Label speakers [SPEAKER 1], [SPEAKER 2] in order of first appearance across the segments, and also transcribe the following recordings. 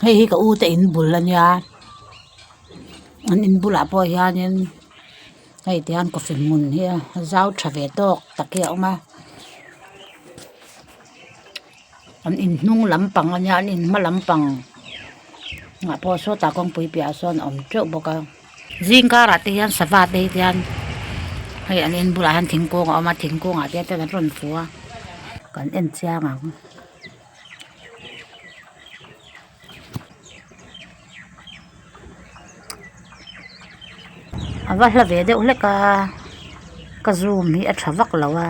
[SPEAKER 1] hei hi ka u te in bul a nia an in bulah pawh hianin hei tian coffee hmun hi a zau tha ve tawk tak hi a awm a an in hnung lampang a nia an in hma lampang ah pawh sawtah kawngpui piahah sawn a awm teuh bawk a zingkar ah te hian sava te hi tian hei an in bulah hian thingkung a awm a thingkung ah te hian an rawn fu a kan en chiang ang. a va hla ve deuh hlek a ka zoom hi a tha vak lo a.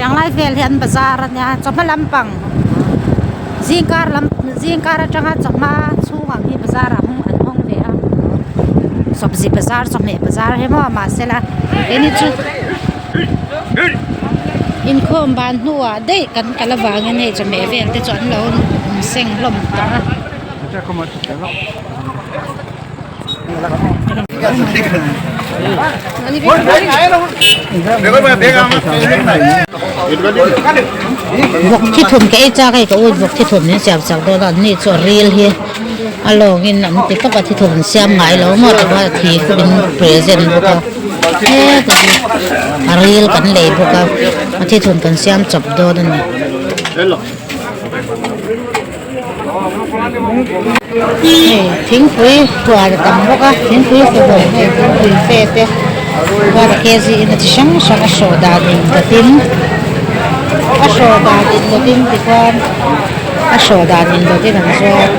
[SPEAKER 1] Tanglai vel hi an bazar a nia chawhma lampang zingkar lam zingkar atanga chawhma chhungah hi bazar ah hawng an hawng ve a sawbzi bazar chawhmeh bazar hi maw mahse la keini chu-- Inkhawm ban hnuah daih kan kal avangin hei chawhmeh vel te chu an lo seng hlawm ta a. a lawng in an ti tawp a thi thawk an siam ngai lo ngawt a va khi khawp in present bawk a hek a hi a ril kan lei bawk a a thi thun kan siam chawp dawn a ni hei thingpui huan a tam bawk a thingpui huhawm nge thingpui fe te bawra kg ina chi hrang hrang a hrawh dan in ka tin a hrawh dan in ka tin ti khuan. a hrawh dan in bawk in an zuar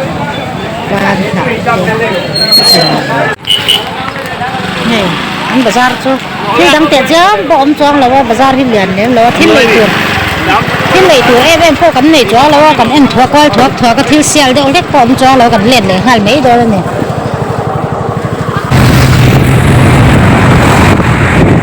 [SPEAKER 1] pan hnah te hei an bazar chu thil dang teh chiang pawh awm chuang lo a bazar hi lian lem lo a thil nei tur thil nei tur em em pawh kan nei chuang lo a kan en thuak kual thuak thuak a thil sial deuh hlek pawh awm chuang lo kan let leh nghal mai dawn a ni.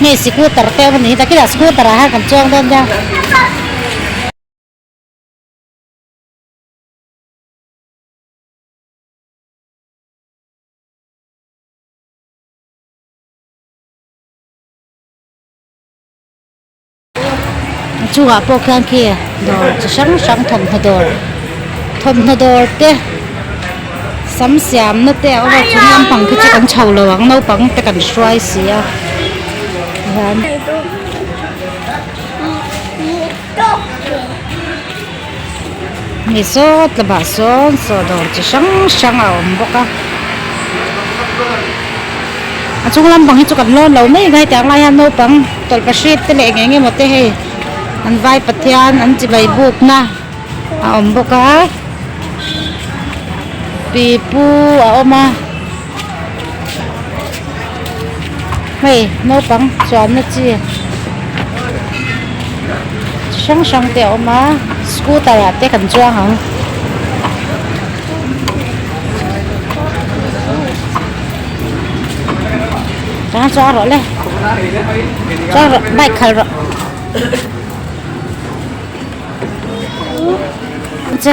[SPEAKER 1] Hei scooter te awm a nih hi ta khilaiah scooter ah hian kan chuang dawn nia. a chungah pawh khian khi dawr chi hrang hrang thawmhnaw dawr thawmhnaw dawr te sam siamna te a awm a chung lampang khi chu kan chho lo ang naupang te kan hruai si a tihian. mi sawt lamah sawn chaw dawr chi hrang hrang a awm bawk a a chung lampang hi chu kan lawn lo mai ngai tia ang lai hian naupang tawlhpahrit te leh eng eng emaw te hei an vai pathian an chi bai buk na a awm bawk a pipu a awm a. Hei naupang chuanna chi chi hrang hrang te a awm a scooter ah te kan chuang ang chang chuang rawh le chuang rawh bike khalh rawh che.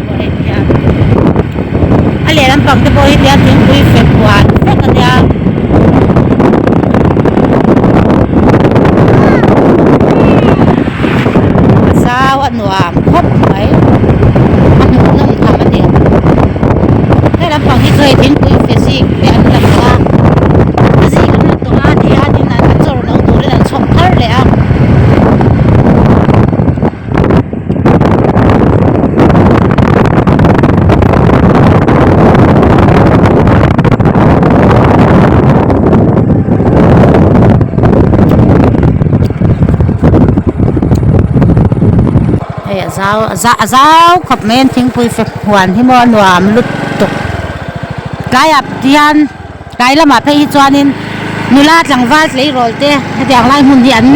[SPEAKER 1] pawh a en teh a a lehlam pang te pawh hi tiang thingpui fek huan vek a nia a zau a nuam khawp mai a hmuh nawm tham a ni helahm pang hi chu hei thingpui fe zing te an lang a a zing a hman tawh a ni a a chawr lo turin an chhawp thar leh a. hei a zau a zau a zau khawp mai a an thingpui fek huan hi maw a nuam lutuk tlaiah hian-- Tlai lamah phei hi chuanin nula tlangval tleirâwlte hetiang lai hmun hi an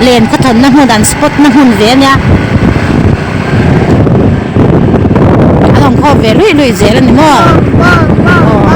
[SPEAKER 1] len khawthawnna hmun, an spotna hmun ve a nia. An awm khawp ve luih luih zel a ni maw? Aw.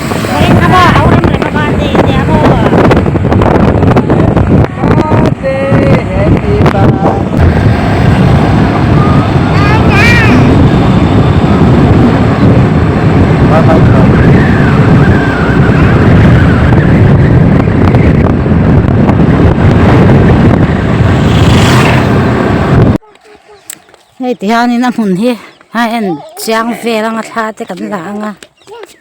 [SPEAKER 1] hetihian in a hmun hi high end chiang vel anga thla te kan la anga.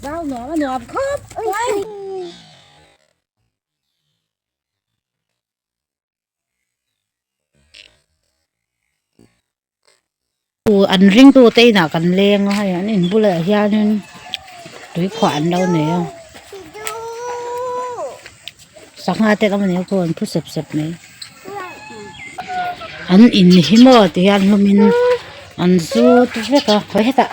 [SPEAKER 1] Zau nuam a nuam khawp mai. An ringtu te inah kan leng a, hei an in bulah hianin tui khuah an lo nei a. Sangha te lam ania pawh an thu sep sep mai. An in hi maw tih hian hlumin an zut vek a khawi hetah.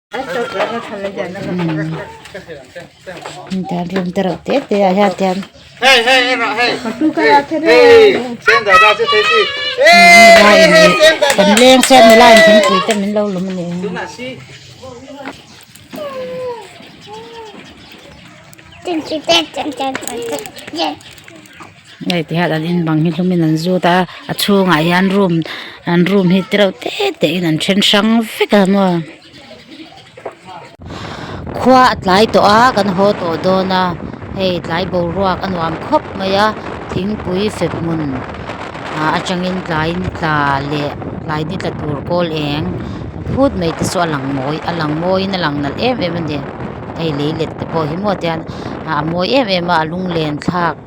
[SPEAKER 1] Hetiang room te reuh te te ah hian tian lengsem nula in thingpui te min lo lawm a ni ang. Hei ti hian an in bang hi hlum in an zut a a chhung ah hian room an room hi tirau te te in an then hrang vek a maw khua a tlai tawh a kan haw tawh dawn a hei tlai boruak a nuam khawp mai a thingpui fek hmun ah a tang in tlai ni tla leh tlai ni tla tur kawl eng phut mai te chu a lang mawi a lang mawi in a lang nalh em em a ni hei lei let te pawh hi maw tian a mawi em em a a lunglen thlak--